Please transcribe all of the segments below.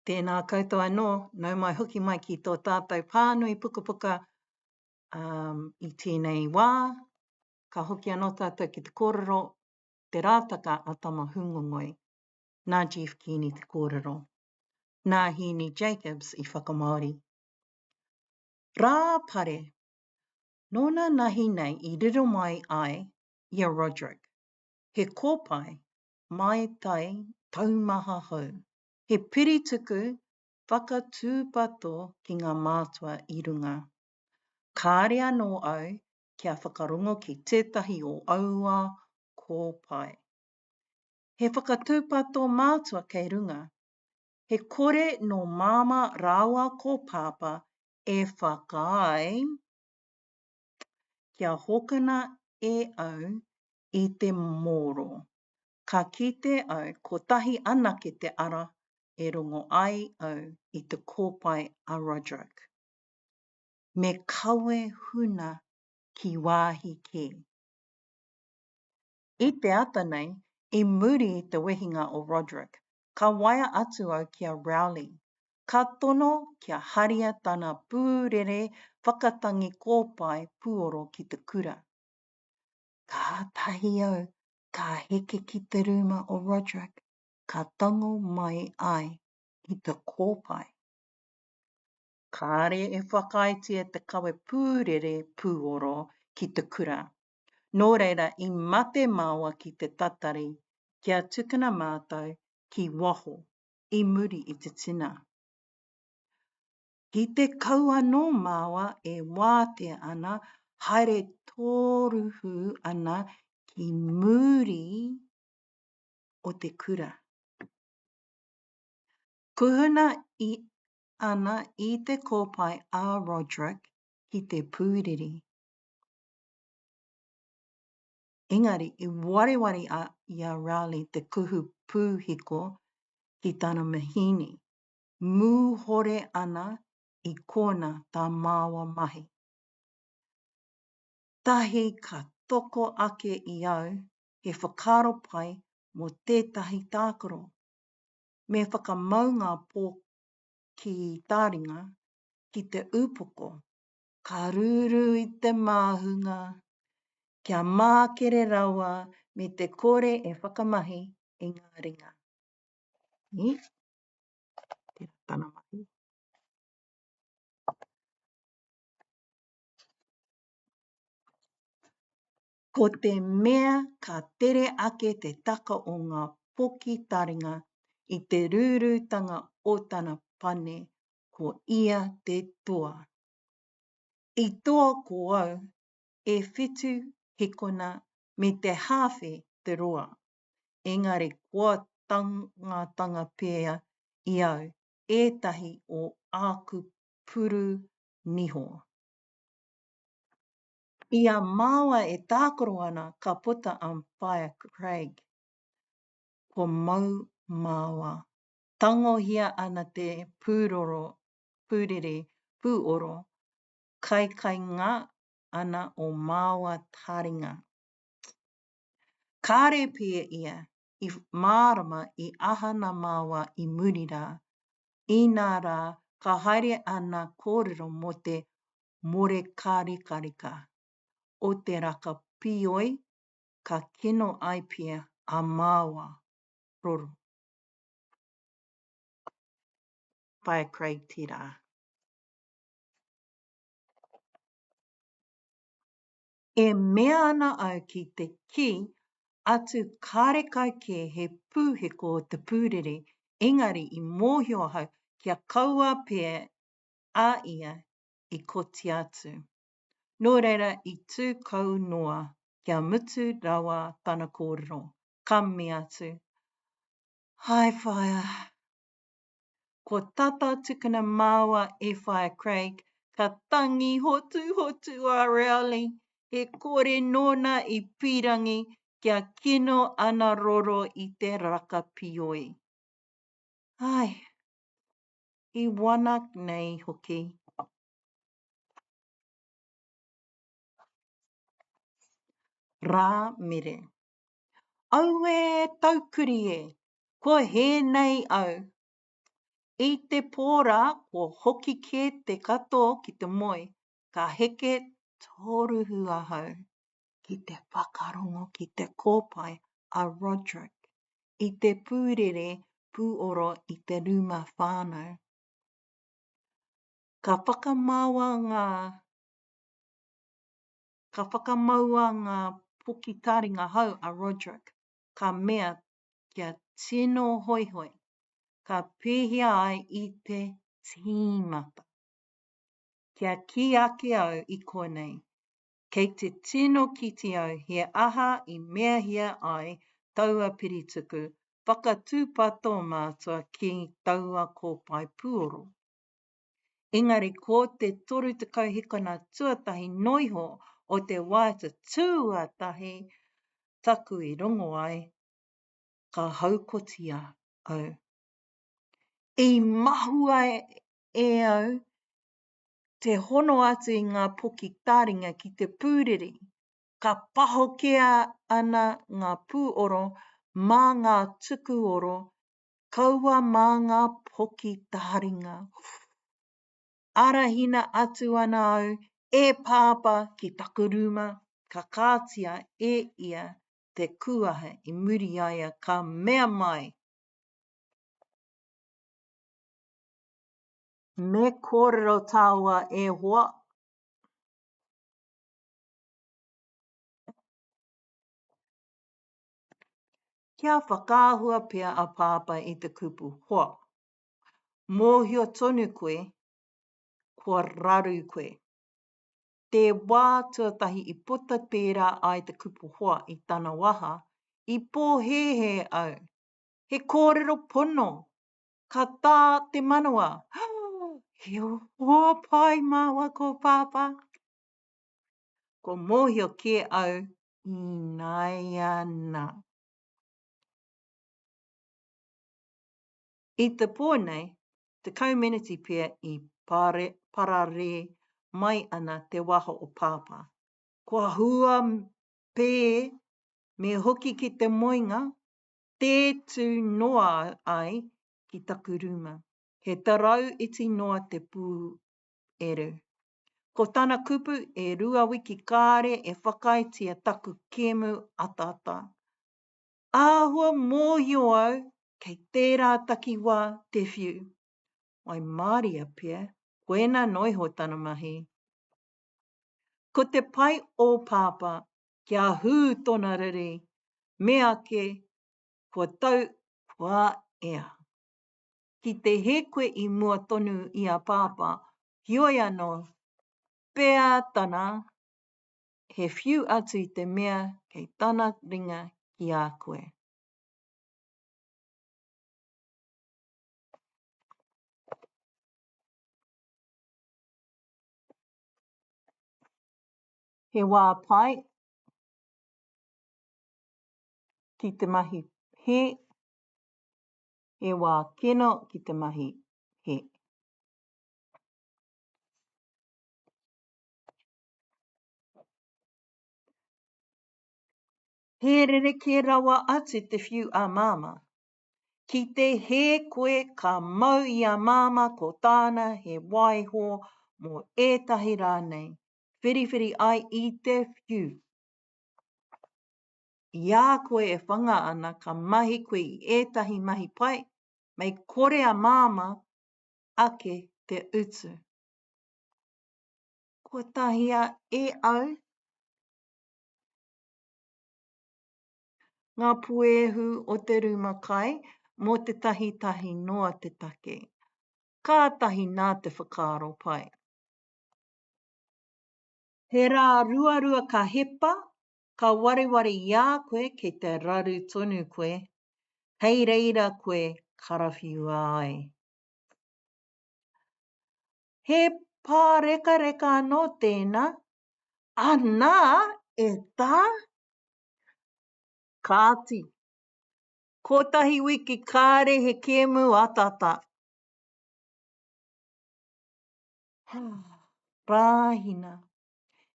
Tēnā koutou anō, nau mai hoki mai ki tō tātou pānui pukapuka i tēnei wā, ka hoki anō tātou ki te kōrero Te Rātaka a Tama Hūngongoi, nā Jeff Keaney te kōrero, nā Hēni Jacobs i whakamāori. Rā Pare, nōna nahi nei i riro mai ai i a Roderick, he kōpae Mai Tai taumaha hou. He piri tuku whakatūpato ki ngā mātua i runga. Kāre anō au kia whakarongo ki tētahi o aua kōpae. He whakatūpato mātua kei runga. He kore nō Māmā rāua ko Pāpā e whakaae kia hokona e au i te mōro. Ka kite au kotahi anake te ara e rongo ai au i te kōpae a Roderick. Me kawe huna ki wāhi kē. I te ata nei, i muri i te wehinga o Roderick, ka waea atu au ki a Rowley, ka tono kia haria tana pūrere whakatangi kōpae puoro ki te kura. Kātahi au ka heke ki te rūma o Roderick, ka tango mai ai ki te kōpae. Kāre e whakaaetia te kawe pūrere pūoro ki te kura. Nō reira i mate māua ki te tatari kia tukuna mātou ki waho i muri i te tina. Ki te kau anō māua e wātea ana, haere tōruhū ana ki muri o te kura. Kuhuna i ana i te kōpae a Roderick ki te pūriri. Engari, i wareware a, i a Raleigh te kuhu pūhiko ki tana mahini. mūhore ana i kōna tā māua mahi. Tahi ka toko ake i au he whakaaro pai mō tētahi tākaro. Me whakamau ngā pō ki tā ringa, ki te upoko, ka rūrū i te māhunga, kia mākere rawa me te kore e whakamahi i ngā ringa. Ī? Tērā tana mahi. Ko te mea ka tere ake te taka o ngā poki taringa i te rūrūtanga o tana pane, ko ia te toa. I toa ko au e whitu hikona me te hāwhe te roa. engari kua tangatanga pea i au ētahi o āku puru niho. I a māua e tākaro ana ka puta a Whaea Craig. Kua mau māua. Tangohia ana te pūroro, pūrere, pūoro, kaikainga ana o māua taringa. Kāre pea ia i mārama i aha nā māua i muri rā, inā rā ka haere āna kōrero mō te morekārekāreka o te raka pīoi ka kino ai pea a māua roro. By a Craig Te Rā. E mea ana au ki te kī atu kāre kai kē he pūheko o te pūrere, engari i mōhio ahau kia kaua pē a ia i kotia atu. Nō reira i tū kau noa kia mutu rawa tana kōrero, ka mea atu, Hai whaea! Ko tata tukuna māua e whaea Craig, ka tangi hotuhotu a Rowley, he kore nōna i pīrangi kia kino ana roro i te raka pioi. Ai, i wana nei hoki. Rā mere. Aue taukuri e, ko hē nei au. I te pō rā kua hoki kē te kato ki te moe, ka heke tōruhu ahau. Ki te whakarongo ki te kōpae a Roderick i te pūrere pūoro i te rūma whānau. Ka whakamaoa ngā. Ka whakamaua ngā poki taringa hau a Roderick, ka mea kia tino hoihoi, ka pēhia ai i te tīmata. Kia kī ake au i konei, kei te tino kite au he aha i meahia ai taua pirituku whakatūpato mātua ki taua kōpae pūoro. Engari ko te 30 hikona tuatahi noa iho o te wā tuatahi taku i rongo ai, ka haukotia au. I mahua e au te hono atu i ngā poki tāringa ki te pūriri, ka pahokea ana ngā pūoro mā ngā tukuoro kaua mā ngā poki taringa. Arahina atu ana au e Pāpā ki taku rūma, ka kātia e ia te kūaha i muri i a ia, ka mea mai, Me kōrero tāua e hoa. kia whakaahua pea a Pāpā i te kupu, hoa, mōhio tonu koe, kua raru koe. Te wā tuatahi i puta pērā ai te kupu hoa i tana waha, i pōhēhē au. He kōrero pono! Ka tā te manawa, He hoa pai māua ko Pāpā! Ko mōhio kē au ināianā. I te pō nei, tekau meneti pea i pararē mai ana te waho o Pāpā. Kua hua pē me hoki ki te moenga, tē tū noa ai ki taku rūma. He tarau iti noa te pū Eru. Ko tana kupu e rua wiki kāre e whakaaetia taku kēmu ataata. Āhua mōhio au kei tērā takiwā te whiu. I māria pea koina noa iho tana mahi. Ko te pai o Pāpā kia hū tona riri, meake kua tau kua ea. ki te hē koe i mua tonu i a Pāpā, heoi anō, peā tana, he whiu atu i te mea kei tana ringa ki a koe. He wā pai ki te mahi hē, he wā kino ki te mahi, he. He rerekē rawa atu te whiu a Māmā. Ki te hē koe ka mau i a Māmā ko tāna he waiho mō ētahi rānei, whiriwhiri ai i te whiu. I a koe e whanga ana ka mahi koe i ētahi mahi pai, mei kore a Māmā ake te utu. Kua tahia e au ngā puehu o te rūma kai mō tētahi tahi noa te take. Kātahi nā te whakaaro pai. He rā ruarua ka hepa, ka wareware i a koe kei te raru tonu koe, kei reira koe karawhiua ai. He pārekareka anō tēnā, anā, e tā! Kāti, kōtahi wiki kāre he kēmu ataata. Hā, rāhina,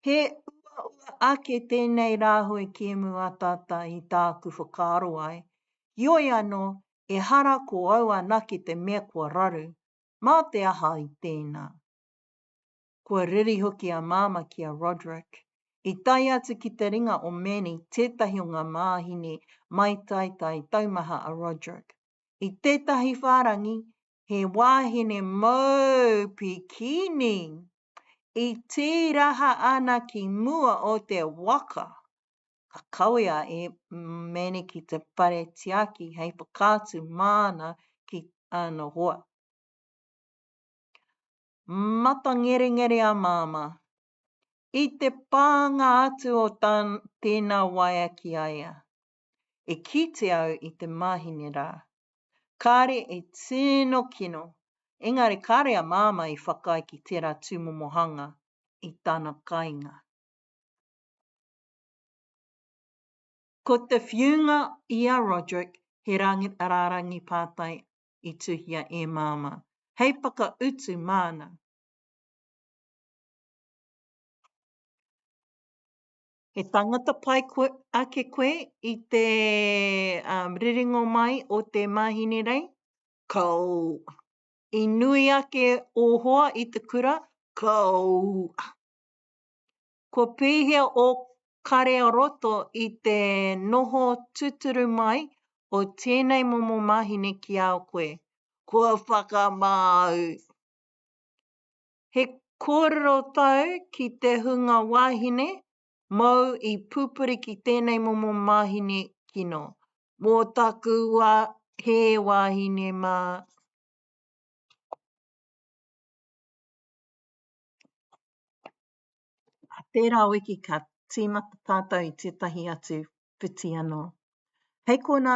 He uaua ake tēnei rāhui kēmu ataata i tāku whakaaro ai, heoi anō, ehara ko au anake te mea kua raru, mā te aha i tēnā? Kua riri hoki a Māmā ki a Roderick. I tae atu ki te ringa o Manny tētahi o ngā māhine maitaitae taumaha a Roderick. I tētahi whārangi, he wāhine mōu pikini, i tīraha ana ki mua o te waka. Ka kawea e Maneki te whare tiaki hei whakaatu māna ki ana hoa. Matangerengere a Māmā. I te pānga atu o tēnā waea ki a ia, E kite au i te mahine rā. Kāre e tino kino, engari kāre a Māmā i whakaae ki tērā tūmomo hanga i tana kainga. Ko te whiunga i a Roderick he rārangi pātai i tuhia e Māmā, hei whakautu māna. He tangata pai ake koe i te riringo mai o te Mahinirei? Kaua. I nui ake o hoa i te kura? Kaua. Kua pēhea o Kare-a-roto i te noho tuturu mai o tēnei momo mahine ki a koe? Kua whakamāu. He kōrero tau ki te hunga wāhine mōu i pūpuri ki tēnei momo māhine kino. Mō taku wā, he wāhine mā. Tērā wiki ka tīmata tātou i tētahi atu whiti anō. Hei kona.